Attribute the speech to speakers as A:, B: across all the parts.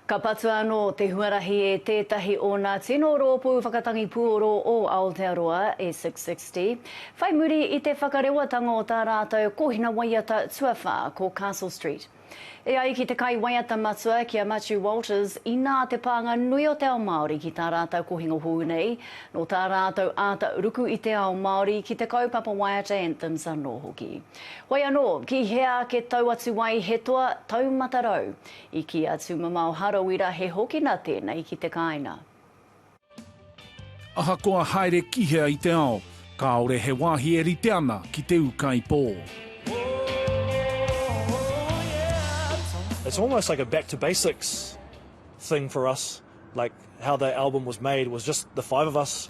A: Ka patua anō te huarahi e tētahi o nā tino rōpū whakatangi puoro o Aotearoa, e 660, whai muri i te whakarewatanga o tā rātou kōhina waiata tuawhā ko Castle Street. E ai ki te kaiwaiata matua, ki a Matiu Walters, inā te pānga nui o te ao Māori ki tā rātou kohinga hou nei, nō tā rātou āta ruku i te ao Māori ki te kaupapa waiata anthems anō hoki. Whai anō, ki hea ake tau atu ai he toa taumata rau, I kī a Tūmamao Harawira he hokina tēnei ki te kāinga.
B: Ahakoa haere ki hea i te ao, kāore he wāhi e rite ana ki te ūkaipō.
C: It's almost like a back to basics thing for us, like how the album was made was just the five of us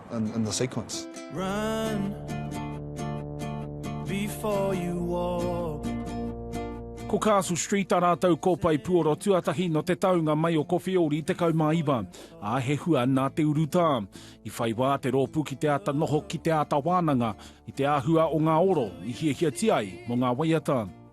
D: in the sequence. Run
E: before you walk.
B: Ko Castle Street a rātou kōpae puoro tuatahi no te taunga mai o Kowheori 19, ā, he hua nā te urutā. I whai wā te rōpū ki te āta noho ki te āta wānanga i te āhua o ngā oro i hiahiatia ai mō ngā waiata.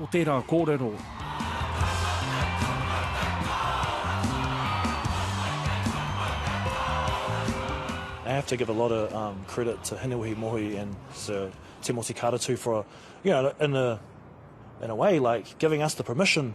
B: o tērā kōrero.
C: I have to give a lot of um credit to Hinewehi Mohi and Sir Timoti Karatu for you know in a in a way like giving us the permission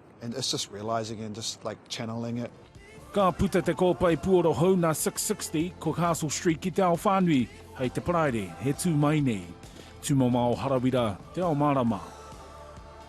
D: And it's just realising and just like channeling it. Ka puta te
B: kōpae puoro hou nā 660 ko Castle Street ki te ao whānui, hei te Paraire, he tū mai nei. Tūmomao Harawira, Te Ao Mārama.